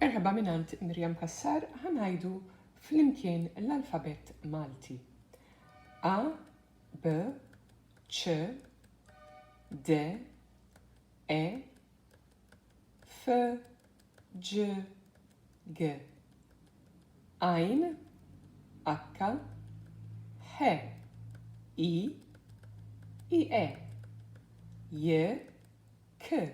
Merħba mingħand Miriam Cassar ħa ngħidu flimkien l-alfabett Malti. A, B, C, D, E, F, G, G. Ajn, H, H, I, I, E, J, K,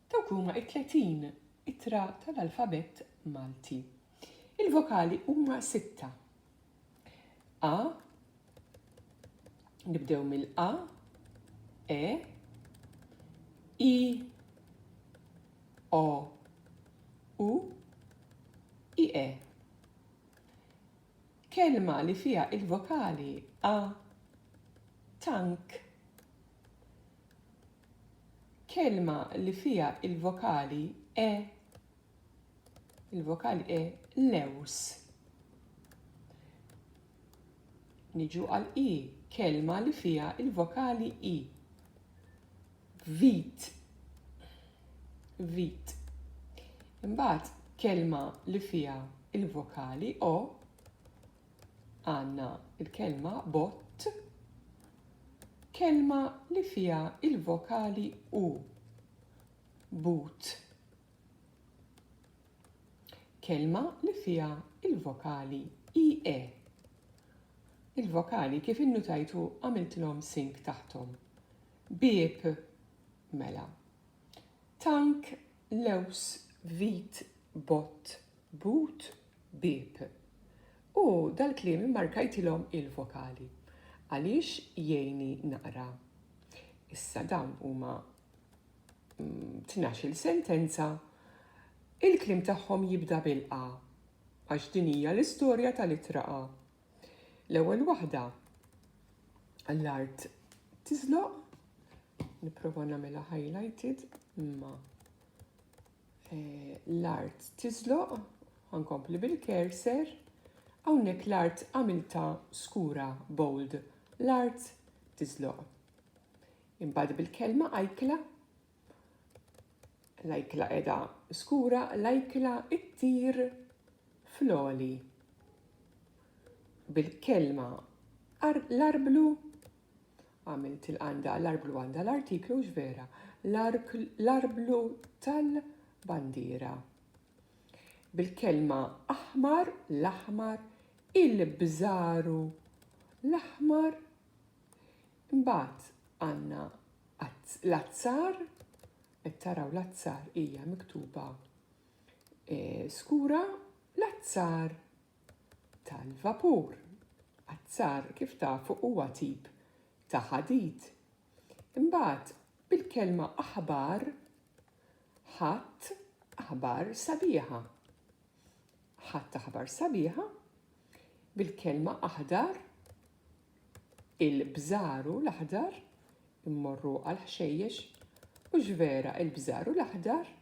Dawk huma t-tletin ittra tal-alfabett Malti. Il-vokali huma sitta. A, nibdew mill-A, E, I, O, U, I, E. Kelma li fija il-vokali A, tank, Kelma li fiha l-vokali e il-vokali e lews. Niġu għal i, kelma li fiha il-vokali i. Vit. Vit. Imbagħad kelma li fiha il-vokali o għandna l-kelma bott, kelma li fiha il-vokali u but. Kelma li fiha il-vokali i e. Il-vokali kif innutajtu għamiltilhom sink taħtom. Bieb mela. Tank lews vit bott but Bieb. U dal-kliem immarkajtilhom il-vokali. Għaliex jgħinni naqra. Issa dawn huma tnax-il sentenza. Il-kliem tagħhom jibda bil-A għax din hija l-istorja tal-ittra A. L-ewwel waħda l-art tiżloq, nipprova nagħmilha highlighted imma Eh, l-art tiżloq, għankompli bil-kerser, għawnek l-art għamilta skura bold, l-art tiżloq. Imbad bil-kelma ajkla, l-ajkla edha skura, l-ajkla it-tir floli. Bil-kelma l-arblu Għamilt il-qanda l-arblu għandha l-artiklu hux vera l-arblu tal-bandiera. Bil-kelma aħmar l-aħmar il-bżaru l-aħmar imbagħad għandna l-azzar qed taraw l-azzar hija miktuba eh, skura l-azzar tal-vapur. Azzar, kif tafu, huwa tip ta' ħadid. Imbagħad, bil-kelma aħbar, ħadt aħbar sabiħa. Ħadt aħbar sabiħa, bil-kelma aħdar, Il-bżaru l-aħdar immorru għall-ħxejjex u x'vera il-bżaru l-aħdar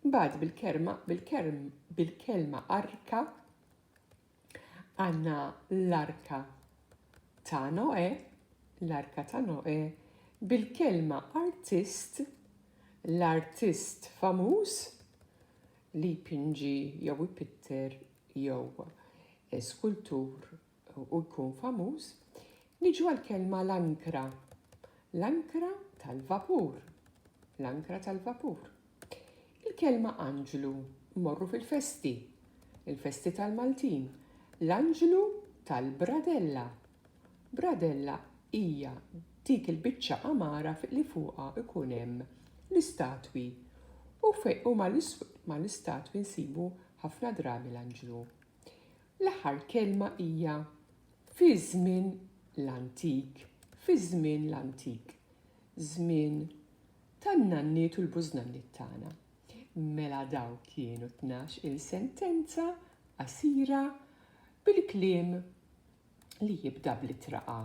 imbagħad bil-kerma bil-kerm bil-kelma arka għandna l-arka ta' Noè, l-arka ta' Noè bil-kelma artist, l-artist famuż li jpinġi jew ipitter jew eh, skultur u jkun famuż, niġu għall-kelma l-ankra, l-ankra tal-vapur, l-ankra tal-vapur. Il-kelma anġlu mmorru fil-festi, il-festi tal-Maltin, l-anġlu tal-bradella. Bradella hija dik il-biċċa għamara li fuqha ikun hemm l-istatwi u fejn huma l-istatwi nsibu ħafna drabi l-anġlu. L-aħħar kelma hija fi żmien l-antik, fi żmien l-antik, żmien tan-nanniet u l-bużnanniet tagħna. Mela daw kienu tnax il-sentenza qasira bil-kliem li jibda bl-ittra A.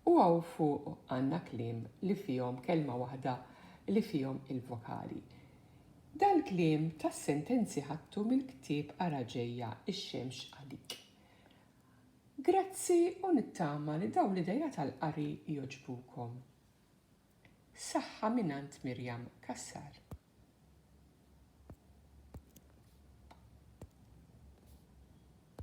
U hawn fuq għandna kliem li fihom kelma waħda li fihom il-vokali. Dal-kliem tas-sentenzi ħadtu mill-ktieb Ara Ġejja x-Xemx Għalik. Grazzi u nittama li dawn l-ideat għall-qari jogħġbukom. Saħħa mingħand Miriam Cassar.